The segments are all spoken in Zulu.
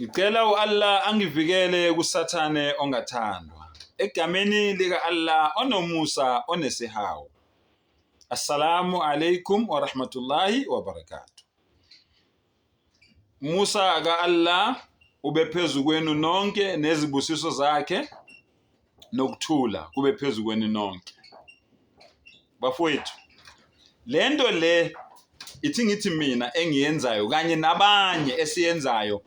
Ngicela u-Allah angivikele kusathane ongathandwa. Egameni lika-Allah onomusa onesihawu. Assalamu alaikum wa rahmatullahi wa barakatuh. Musa ka-Allah ube phezu kwenu nonke nezibusiso zakhe. nokuthula kube phezu kwenu nonke bafowethu le nto le ithi ngithi mina engiyenzayo kanye nabanye esiyenzayo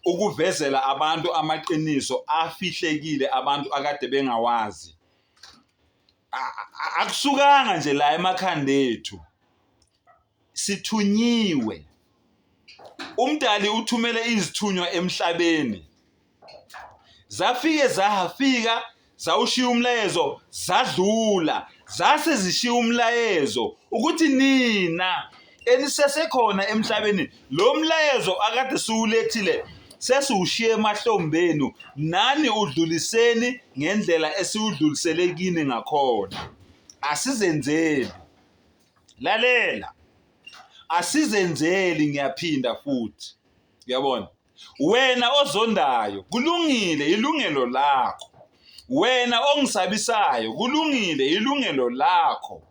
ukuvezela abantu amaqiniso afihlekile abantu akade bengawazi akusukanga nje la emakhanda ethu sithunyiwe umdali uthumele izithunywa emhlabeni zafike zahafika zawushiya umlayezo zadlula zase zishiya umlayezo ukuthi nina enisesekhona emhlabeni lo mlayezo akade siwulethile sesiwushiye emahlombenu nani udluliseni ngendlela esiwudlulisele kini ngakhona asizenzeli lalela asizenzeli ngiyaphinda futhi uyabona wena ozondayo kulungile ilungelo lakho wena ongisabisayo kulungile ilungelo lakho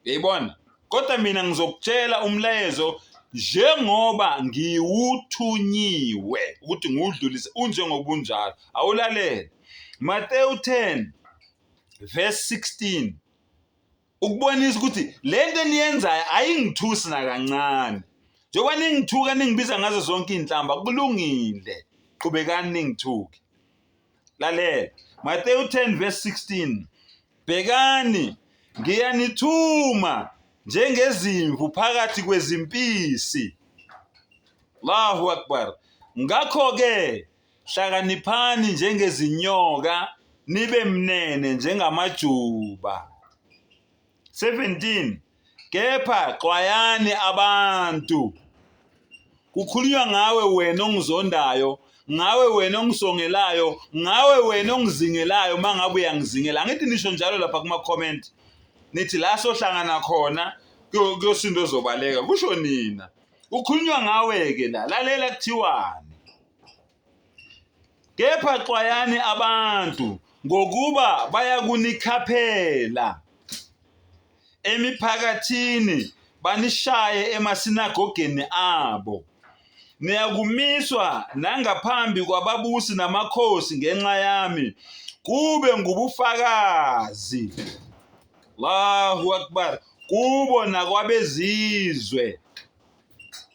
yayibona kodwa mina ngizokutshela umlayezo njengoba ngiwuthunyiwe ukuthi ngiwudlulise unjengobunjalo awulalele Mateyu 10 verse 16 ukubonisa ukuthi le nto eniyenzayo ayingithusi nakancane njengoba ningithuka ningibiza ngazo zonke iy'nhlamba kulungile qhubekani ningithuke lalela matewu 10 verse 16 bhekani ngiyanithuma njengezimvu phakathi kwezimpisi allahu akbar ngakho-ke Hlakaniphani njengezinyoka nibe mnene njengamajuba. 17 kepha xwayani abantu kukhulunywa ngawe wena ongizondayo ngawe wena ongisongelayo ngawe wena ongizingelayo uma ngabe uyangizingela angithi nisho njalo lapha kuma-comment nithi la sohlangana khona kuyosinto ozobaleka kusho nina kukhulunywa ngawe-ke la lalela kuthiwani kepha xwayani abantu ngokuba bayakunikhaphela emiphakathini banishaye emasinagogeni abo niyakumiswa nangaphambi kwababusi namakhosi ngenxa yami kube ngubufakazi Allahu akbar kubo nakwabezizwe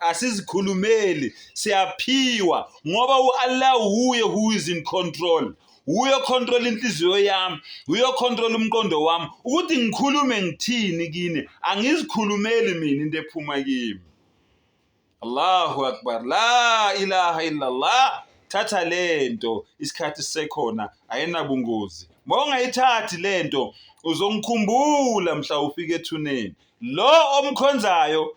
asizikhulumeli siyaphiwa ngoba uAllah wuye who is in control wuye okhontrola inhliziyo yami wuye okhontrola umqondo wami ukuthi ngikhulume ngithini kini angizikhulumeli mina into ephuma kimi Allahu akbar la ilaha illallah thatha lento isikhathi sisekhona ayinabungozi mawungayithathi lento uzongikhumbula mhla ufika ethuneni lo omkhonzayo